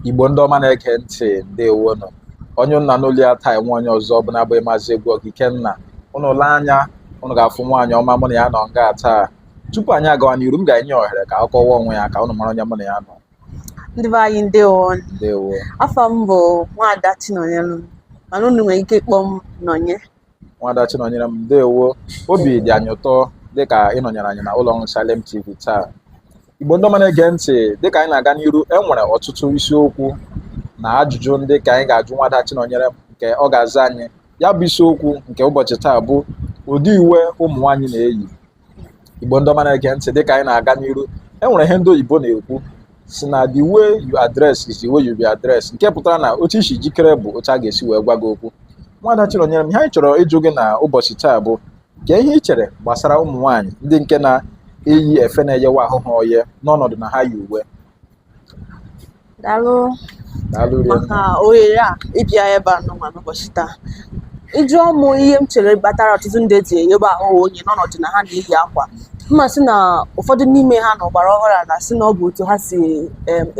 igbo ndị ọma na-ege ntị ndewonụ onye ụnụ na-anụ olu ya taa enweghị onye ọzọ ọ bụ na-abụghị maazị egwu oke ikenna ụnụ lee anya ụnụ ga-afụ nwaanyị ọma mụ na ya nọ nga taa tupu anyị agawa n'iru m ga-enye ohere ka ọ kọwa onwe ya ka ụnụ mara onye mụ na ya nọ ndị be anyị ndewo ndewo afa m bụ nwaada chinọnyelum mana unu nwere ike ịkpọ m nọnye nwada Chinọnyerem ndewo obi dị anyị ụtọ dịka ị nọnyeere anyị na ụlọ ọrụ Salem TV taa Igbo ndị ọma na-ege ntị dịka anyị na-aga n'iru e nwere ọtụtụ isiokwu na ajụjụ ndị ka anyị ga-ajụ nwada Chinọnyerem nke ọ ga-aza anyị ya bụ isiokwu nke ụbọchị taa bụ ụdị uwe ụmụ nwaanyị na-eyi igbo ndị ọma na-ege ntị dịka anyị na-aga n'iru e nwere ihe ndị oyibo na-ekwu si na the way you are dressed is the way you be addressed nke pụtara na otu i si jikere bụ otu a ga-esi wee gwa gị okwu nwada Chinọnyerem ihe anyị chọrọ ịjụ gị na ụbọchị taa bụ kee ihe ị chere gbasara ụmụ nwaanyị ndị nke na-eyi efe na-eyewa ahụ ha oye n'ọnọdụ na ha yi uwe daalụ maka ohere a ịbịa ebe a nụnwa n'ụbọchị taa ị jụọ mụ ihe m chere kpatara ọtụtụ ndị ji eyebe ahụ oye n'ọnọdụ na ha na-eyi akwa m ma-asị na ụfọdụ n'ime ha na ọgbara ọhụrụ a na-asị na ọ bụ otu ha si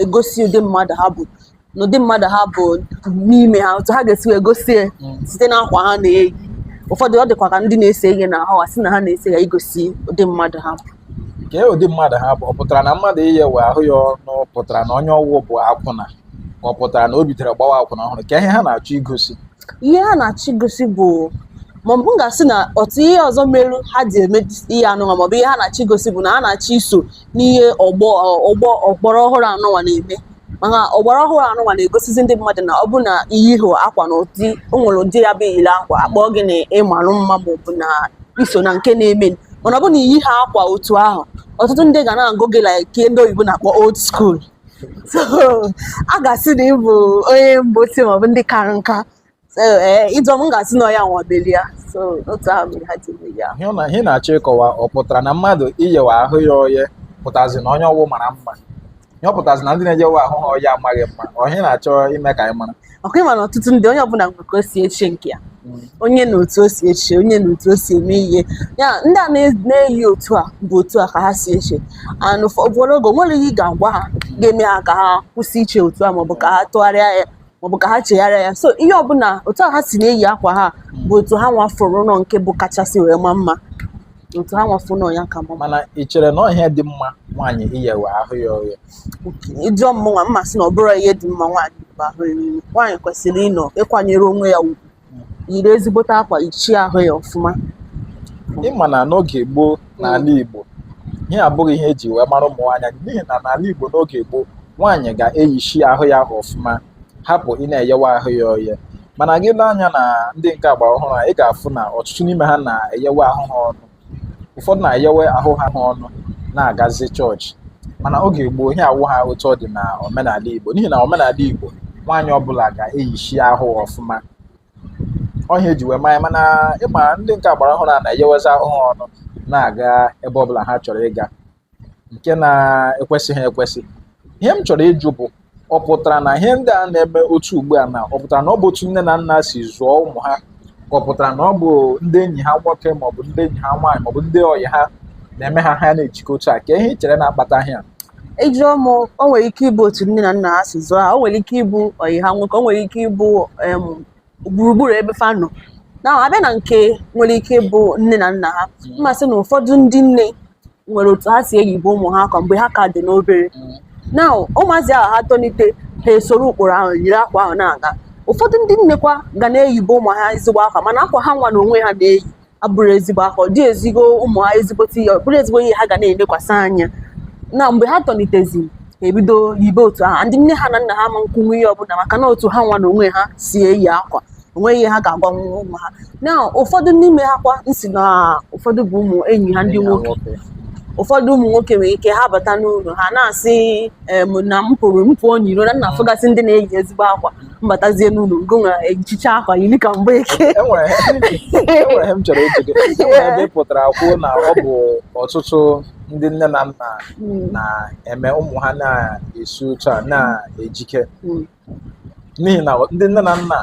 egosi ụdị mmadụ ha bụ n'ụdị mmadụ ha bụ n'ime ha otu ha ga-esi wee gosi hmm. site n'akwa ha na-eyi ụfọdụ ọ dịkwa ka ndị na-ese ihe na ahụ a sị na ha na-ese ya igosi ụdị mmadụ ha bụ kee ụdị mmadụ ha bụ ọ pụtara na mmadụ iyewe ahụ ya ọnụ pụtara na onye ọwụ bụ akwụna ọ pụtara na o bidoro gbawa akwụna ọhụrụ kee ihe ha na-achọ igosi ihe ha na-achọ igosi bụ maọbụ m ga-asị na otu ihe ọzọ melu ha ji eme ihe anụnwa maọbụ ihe ha na-achọ igosi bụ na ha na-achọ iso n'ihe ọgbọ ọgbọ ọgbara ọhụrụ anụnwa na-eme maka ọgbara ọhụrụ anụnwa na-egosizi ndị mmadụ na ọ bụ na i yihọ akwa na ụdị o nwere ụdị ọ ya-abụ i yiri akwa a kpọọ gị na ị marụ mma ma ọ bụ na i so na nke na-eme mana ọ bụ na i yihọ akwa otu ahụ ọtụtụ ndị ga na-agụ gị like ke ndị oyibo na-akpọ old school so a ga-asị na ị bụ onye mgbe ochie maọbụ ndị kara nka ee eh, ị jụọ m m ga-asị na ọ ya nwa melu ya so otu ahụ mere ha ji eme ya ihe na ihe ị na-achọ ịkọwa ọ pụtara na mmadụ iyewa ahụ ya oye pụtazi na onye ọwụ mara mma ihe ọ pụtazi na ndị na-eyewe ahụ ha oye amaghị mma ọ ihe ị na-achọ ime ka anyị mara okay ị ma na ọtụtụ ndị onye ọbụla nwere ka o si eche nke ya hmm. onye na otu o si eche onye na otu o si eme ihe ya ndị a na-eyi otu a bụ otu a ka ha si eche and ụfọdụ oge e nwere ihe ị ga-agwa ha ga-eme ha ka ha kwụsị iche otu a maọbụ ka ha tụgharịa ya maọbụ ka ha chegharịa ya so ihe ọbụla otu ha si na-eyi akwa ha bụ otu ha nwa fụrụ na ọ nke bụ kachasị wee ma mma otu ha nwa fụ na ọ ya ka mma mana ị chere na ọ ihe dị mma nwaanyị iyewe ahụ ya oye ị jụọ mụnwa m ma-asị na ọ bụrọ ihe dị mma nwaanyị iyebe ahụ ya oye nwaanyị kwesịrị ịnọ ịkwanyere onwe ya ugwu yiri ezigbote akwa yichie ahụ ya ọfụma ị ma na n'oge gboo n'ala mm. Igbo ihe a abụghị ihe eji wee mara ụmụ nwaanyị n'ihi na n'ala Igbo n'oge gboo nwaanyị ga-eyichi ahụ ya ọfụma hapụ ịna-eyewa ahụ ya oye mana gị lee anya na ndị nke agba ọhụrụ a ị ga-afụ na ọtụtụ n'ime ha na-eyewa ahụ ha ọnụ ụfọdụ na-eyewe ahụ ha ha ọnụ na-agazi chọọchị mana oge gboo ihe a awụha otu ọ dị na omenala Igbo n'ihi na omenala Igbo nwaanyị ọbụla ga-eyichi ahụ ọfụma ọ ihe eji wee ma anyị mana ị ma ndị nke agbara ọhụrụ a na-eyewezi ahụ ha ọnụ na-aga ebe ọbụla ha chọrọ ịga nke na-ekwesịghị ekwesị ihe m chọrọ ịjụ bụ ọ pụtara na ihe ndị a na-eme otu ugbu a na ọ pụtara na ọ bụ otu nne na nna si zụọ ụmụ ha ka ọ pụtara na ọ bụ ndị enyi ha nwoke maọbụ ndị enyi ha nwaanyị maọbụ ndị ọyị ha na-eme ha ha na-ejike otu a ka ihe i chere na-akpata ihe a ị jụọ m o nwere ike ịbụ otu nne na nna ha si zụọ ha o nwere ike ịbụ ọyị ha nwoke o nwere ike ịbụ em, gburugburu ebe fa nọ na a bịa na nke nwere ike ịbụ nne na nna ha m ma-asị na ụfọdụ ndị nne nwere otu ha si eyibe ụmụ ha akwa mgbe ha ka dị n'obere na ụmụazị ahụ ha tolite ha esoro ụkpụrụ ahụ yiri akwa ahụ na-aga ụfọdụ ndị nnekwa ga na-eyibe ụmụ ha ezigbo akwa mana akwa ha nwa na onwe ha na-eyi abụrọ ezigbo akwa ọ dị ezigbo ụmụ ha ezigbote ihe ọ bụrọ ezigbo ihe ha ga na-elekwasị anya na mgbe ha tolitezie ha ebido yibe otu ahụ ndị nne ha na nna ha ama nkwunwu ihe ọbụla maka na otu ha nwa na onwe ha si eyi akwa onweghị ihe ha ga-agwanwu ụmụ ha na ụfọdụ n'ime ha kwa m sị na ụfọdụ bụ ụmụ enyi ha ndị nwoke ụfọdụ ụmụ nwoke nwere ike ha bata n'ụlọ ha na-asị em, na m pụrụ m pụọ n'iro na m na-afụgasị ndị na-eyi ezigbo akwa m batazie n'ụlọ ngị nwa ejicha akwa yiri ka mgbeke enwere enwere ihe m chọrọ ịjụ gị enwere ebe ị pụtara kwuo na ọ bụ ọtụtụ ndị nne na nna Mm, na-eme ụmụ ha na-esi otu a na-ejike mm, n'ihi na ndị nne na nna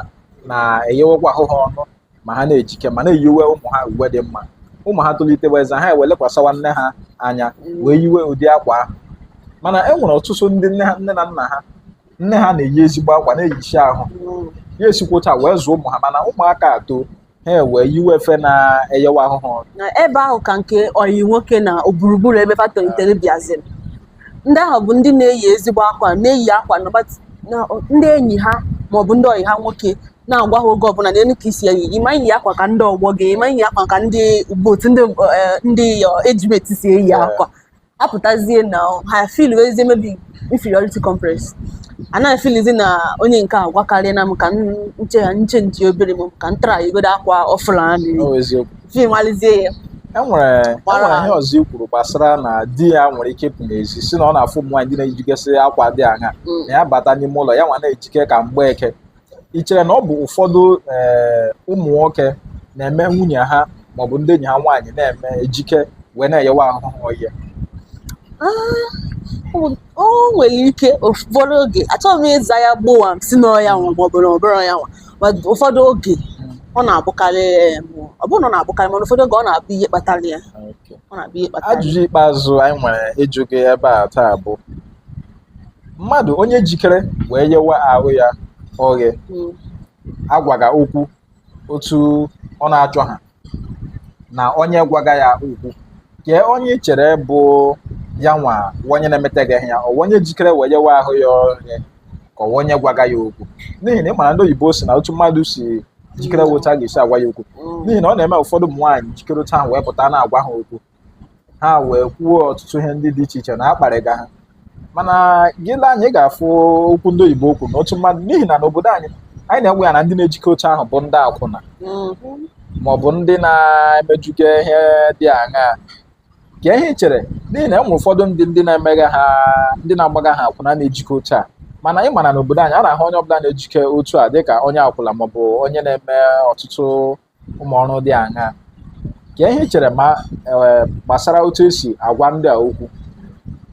na-eyewekwa ahụ ha ọnụ ma ha na-ejike ma na-eyiwe ụmụ ha uwe dị mma ụmụ ha tolitewazie ha ewee lekwasịwa nne ha anya wee yiwe ụdị akwa ahụ mana e nwere ọtụtụ ndị nne ha- nne na nna ha nne ha na-eyi ezigbo akwa na-eyichi ahụ ya esikwa otu a wee zụọ ụmụ ha mana ụmụaka atoo ha ewee yiwe efe na-eyewa ahụ ha ọnụ ebe ahụ ka nke ọyị nwoke na gburugburu ebe fa tolitere bịaziri ndị ahụ bụ ndị na-eyi ezigbo akwa na-eyi akwa na ọgbat- na ndị enyi ha maọbụ ndị ọyị ha nwoke na-agwa ha oge ọbụla nenụ ka i si eyi ị ma eyi akwa ka ndị ọgbọ gị ị ma eyi akwa ka ndị botu ndị eh, ndị eh, age mate si eyi akwa apụtazie na ha feelwezie maybe inferiority complex anaghị feelizi na onye nke a gwakarịa na m ka nche ya nche nche obere m ka m tara igodo akwa ọfụla ha mmiri fim alizie ya enwere e enwere ihe ọzọ i kwuru gbasara na di ya nwere ike ịpụ n'ezi sị na ọ na-afụ ụmụ nwaanyị ndị na-ejigasị akwa dị aṅa mm. na ya bata n'ime ụlọ ya nwa na-ejike ka mgbeke ị chere na ọ bụ ụfọdụ ihe ụmụ nwoke na-eme nwunye ha maọbụ ndị enyi ha nwaanyị na-eme ejike wee na-eyewa ahụ ha oghe O- o nwere ike ụfọdụ oge achọghị m ịza ya gbowam sị n'ọ ya nwa maọbụ na ọ bụrọ ya nwa ma ụfọdụ oge ọ na-abụkarị em, ọ bụrụ na ọ na-abụkarị mana ụfọdụ oge ọ na-abụ ihe kpatara ya ọ na-abụ ihe kpatara ya. ajụjụ ikpeazụ anyị nwere ịjụ gị ebe a taa bụ mmadụ onye jikere wee yewe ahụ ya oghe Mm. agwaga okwu otu ọ na-achọha na onye gwaga ya okwu kee onye ị chere bụ ya nwa onye na-emeteghị ya ọ onye jikere wee yewe ahụ ya oghe ka ọ onye gwaga ya okwu n'ihi na ị mara ndị oyibo si na otu mmadụ si jikere otu a ga-esi agwa ya okwu Mm. n'ihi na ọ na-eme ụfọdụ ụmụ nwaanyị jikere otu ahụ wee pụta na-agwa ha okwu ha wee kwuo ọtụtụ ihe ndị dị iche iche na a kparịga ha mana gị lee anya ị ga-afụ okwu ndị oyibo okwu na otu mmadụ n'ihi na n'obodo anyị anyị na-ewe ya na ndị na-ejike otu ahụ bụ ndị akwụna mm-hmm. ma ọ bụ ndị na-emejuga ihe dị aṅaa kee ihe i chere n'ihi na e nwe ụfọdụ ndị ndị na-emegaha ndị na-agbagaha akwụna na-ejike otu a mana ị ma na n'obodo anyị a na-ahụ onye ọbụla na-ejike otu a dịka onye akwụla maọbụ onye na-eme ọtụtụ ụmụ ọrụ dị aṅaa kee ihe i chere ma e, gbasara otu esi agwa ndị a okwu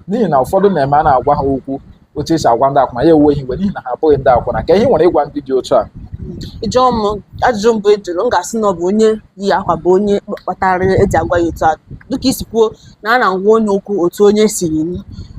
n'ihi na ụfọdụ na-eme a na-agwa ha okwu otu esi agwa ndị akwụna ya ewe ha iwe n'ihi na ha abụghị ndị akwụna kee ihe i nwere ịgwa ndị dị otu a ị jụọ m ajụjụ mbụ ị jụrụ m ga-asị na ọ bụ onye yi akwa bụ onye kpatara eji agwa ya otu a dịka i si kwuo na a na-agwa onye okwu otu onye si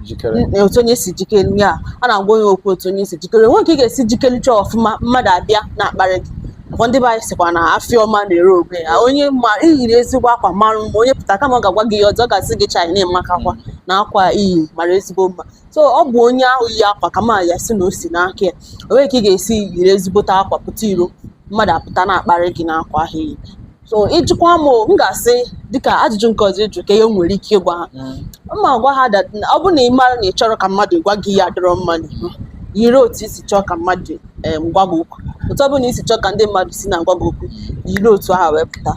jikere n- otu onye si jikere ya a na-agwa onye okwu otu onye si jikere o nwe ka ị ga-esi jikericha ọfụma mmadụ abịa na-akparị gị ọ kwa ndị be anyị sịkwa na afịa ọma na-ere onwe ya onye ma i yiri ezigbo akwa marụ mma onye pụta kama ọ ga-agwa gị ihe ọzọ ọ ga-asị gị chai na ị makakwa na akwa i yi mara ezigbo mma so ọ bụ onye ahụ yi akwa ka m ya-asị na o si n'aka ya o nwe ka ị ga-esi yiri ezigbote akwa pụta iro mmadụ apụta na-akparị gị n'akwa ahụ i yi so ị jụkwa m o, m ga-asị dịka ajụjụ nke ọzọ ị jụ kee ihe m nwere ike ịgwa ha m ga-agwa ha that na ọ bụrụ na ị mara na ị chọrọ ka mmadụ gwa gị ihe adịrọ mma n'ihu yiri otu i si chọọ ka mmadụ em, gwa gị okwu otu ọ bụla i si chọọ ka ndị mmadụ si na-agwa gị okwu yiri otu ahụ wee pụta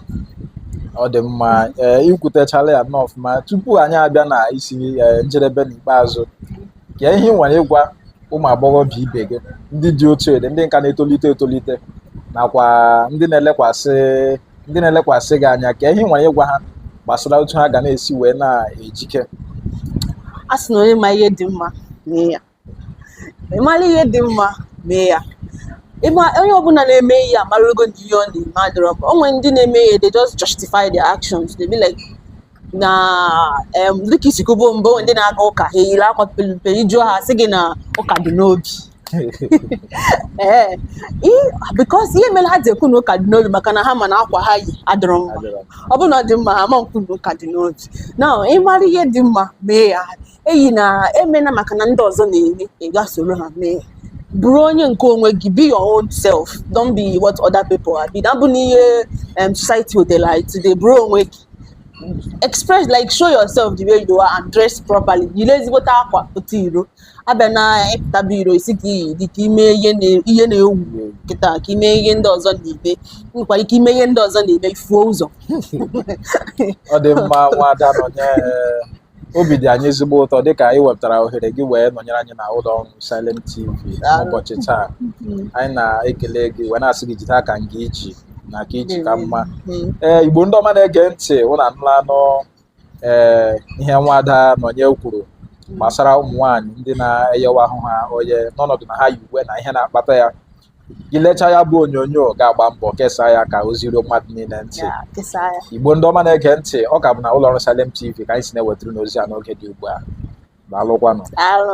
ọ dị mma ee i kwutechala ya nnọọ ọfụma tupu anyị abịa na isi ee, njedebe n'ikpeazụ kee ihe ị nwere ịgwa ụmụ agbọghọbịa ibe gị ndị dị otu ị dị ndị ka na-etolite etolite nakwa ndị na-elekwasị ndị na-elekwasị gị anya kee ihe ị nwere ịgwa ha gbasara otu ha ga na-esi wee na-ejike a sị na onye ma ihe dị mma mee ya ị mara ihe dị mma mee ya ị ma onye ọbụla na-eme ihe amarago na ihe ọ na-eme adịrọ mma o nwere ndị na-eme ihe they just justify their actions they be like na dịka i si kwubo mbụ ndị na-aga ụka ha eyiri akwa pelumpe ị jụọ ha sị gị na ụka dị n'obi ee because ihe mere ha ji ekwu na ụka dị n'obi maka na ha ma na akwa ha yi adịrọ mma ọ bụrụ na ọ dị mma ha ma ekwu na ụka dị n'obi na ị mara ihe dị mma mee ya eyina emena maka na ndị ọzọ na-eme ị ga soro ha mee bụrụ onye nke onwe gị be your own self don't be what other people are be na bụ n'ihe um, society wetara anyị today bụrụ onwe gị express like show yourself the way you are and dress properly yiri ezigbote akwa pụta iro abịa na ị pụtaba iro ị sị ka i yi dị ka ime ihe na-ewu kịta ka i me ihe ndị ọzọ na-eme nwekwara ike ime ihe ndị ọzọ na-eme i fuo ụzọ ọ dị mma Nwada Nọnye obi dị anyị ezigbo ụtọ dịka i wepụtara ohere gị wee nọnyere anyị na ụlọ ọrụ Salem TV n'ụbọchị taa anyị na-ekele gị wee na-asị gị jide aka nga i ji na ka i ji ka mma ee Igbo ndị ọma na-ege ntị ụnụ anụlanụ ee ihe Nwada Nọnye kwuru gbasara ụmụ nwaanyị ndị na-eyewa ahụ ha oye n'ọnọdụ na ha yi uwe na ihe na-akpata ya gị lecha ya bụ onyonyo ga-agba mbọ kesaa ya ka o ziruo mmadụ niile ntị Igbo ndị ọma na-ege ntị ọ ka bụ na ụlọ ọrụ Salem TV ka anyị si na-ewetara ụnụ ozi a n'oge dị ugbu a daalụkwanụ daalụ